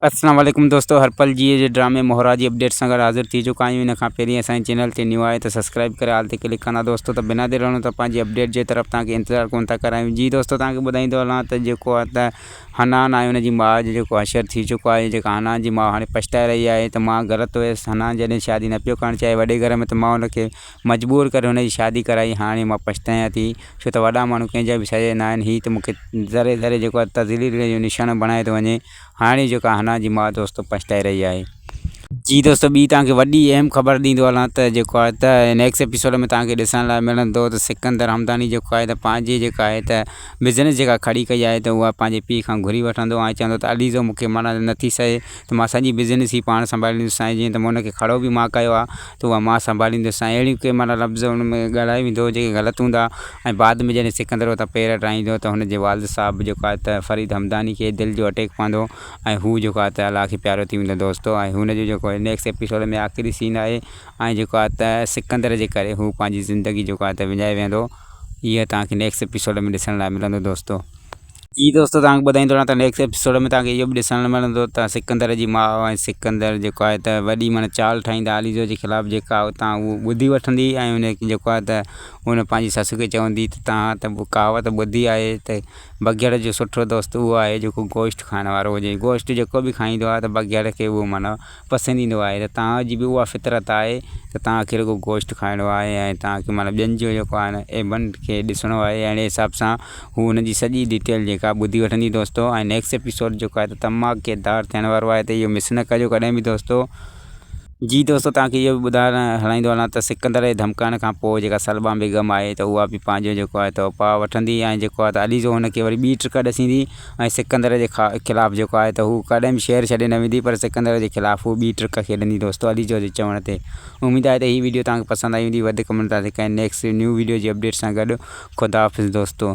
السلام عليڪم دوستو هر پل جيئي جي ڊرامي مهرا جي اپڊيٽ سان گڏ حاضر ٿي چڪا آهيون ان کان پهرين اسان جي چينل تي نيو آهيو ته سبسڪرائيب ڪري آل تي ڪلڪ ڪندا دوستو ته بنا دير هلون ٿا پنهنجي اپڊيٽ جي طرف توهان کي انتظار ڪونه ٿا ڪرايون جي دوستو توهان کي ٻڌائيندو هلان ته جيڪو آهي ته حنان آهي ان جي ماء جو جيڪو حشر ٿي چڪو آهي جيڪا حنان جي ماء هاڻي پڇتائي رهي آهي ته مان غلط هيس حنان جڏهن شادي نه پيو ڪرڻ چاهي وڏي گهر ۾ ته مان ان کي مجبور ڪري ان جي شادي ڪرائي هاڻي مان پڇتايان ٿي ڇو ته وڏا ماڻهو ڪنهن جا به سڄا ناهن هي ته مون کي ذري ذري جيڪو آهي تذليل جو نشانو بڻايو ٿو وڃي هاڻي جيڪا حنا جي ماء دوستو پڇتائي رهي آهي. جي دوستو ٻي توهان کي وڏي اهم خبر ڏيندو هلان ته جيڪو آهي ته نيڪسٽ ايپيسوڊ ۾ توهان کي ڏسڻ لاء ملندو ته سڪندر حمداني جيڪو آهي ته پنهنجي جيڪا آهي ته بزنس جيڪا کڙي ڪئي آهي ته اها پنهنجي پيء کان گهري وٺندو ۽ چوندو ته عليزو مون کي معنيٰ نه ٿي سهي ته مان سڄي بزنس ئي پاڻ سنڀاليندس سائين جيئن ته مون ان کي کڙو به مان ڪيو آهي تون اها مان سنڀاليندس ۽ اهڙيون ڪي معنيٰ لفظ ان ۾ ڳالهايو ويندو هو جيڪي غلط هوندا ۽ بعد ۾ جڏهن سڪندر اتان پير هٽائيندو ته هن جي والد صاحب جيڪو آهي ته فريد همداني کي دل جو اٽيڪ پوندو ۽ هو جيڪو آهي ته الله کي پيارو ٿي ويندو دوستو ۽ هن جو جيڪو نيڪسٽ ايپيسوڊ ۾ آخري سين آهي ۽ جيڪو آهي ته سڪندر جي ڪري هو پنهنجي زندگي جيڪو آهي ته وڃائي ويهندو اهي توهان کي نيڪسٽ ايپيسوڊ ۾ ڏسڻ لاء ملندو دوستو. جي دوستو توهان کي ٻڌائيندو رهان ته نيڪسٽ ايپيسوڊ ۾ توهان کي اهو به ڏسڻ لاء ملندو ته سڪندر جي ماء ۽ سڪندر جيڪو آهي ته وڏي معنيٰ چال ٺاهيندا عاليزو جي خلاف جيڪا اتان اهو ٻڌي وٺندي ۽ ان کي جيڪو آهي ته ان پنهنجي سس کي چوندي ته توهان ته ڪهاوت ٻڌي آهي ته بگهڙ جو سٺو دوست اهو آهي جيڪو گوشت کائڻ وارو هجي گوشت جيڪو به کائيندو آهي ته بگهڙ کي اهو معنيٰ پسند ايندو آهي ته توهان جي به اها فطرت آهي ته توهان کي رڳو گوشت کائڻو آهي ۽ توهان کي معنيٰ ٻين جو جيڪو آهي نه ايبنڊ کي ڏسڻو آهي اهڙي حساب سان هو ان جي سڄي ڊيٽيل جيڪا ٻڌي وٺندي دوستو ۽ نيڪسٽ ايپيسوڊ جيڪو آهي ته تماڪيدار ٿيڻ وارو آهي ته اهو مس نه ڪجو ڪڏهن به دوستو. جي دوستو توهان کي اهو به ٻڌائڻ هلائيندو هلان ته سڪندر جي ڌمڪائڻ کان پوء جيڪا سلما بيگم آهي ته اها به پنهنجو جيڪو آهي ته اپاء وٺندي ۽ جيڪو آهي ته عليزو هن کي وري ٻي ٽرڪ ڏسيندي ۽ سڪندر جي خلاف جيڪو آهي ته هوء ڪڏهن به شهر ڇڏي نه ويندي پر سڪندر جي خلاف هوء ٻي ٽرڪ کيڏندي دوستو عليجو جي چوڻ تي اميد آهي ته هي وڊيو توهان کي پسند آئي هوندي وڌ ڪمينٽ تان ڪين نيڪسٽ نيو وڊيو جي اپڊيٽ سان گڏ خداحافظ دوستو.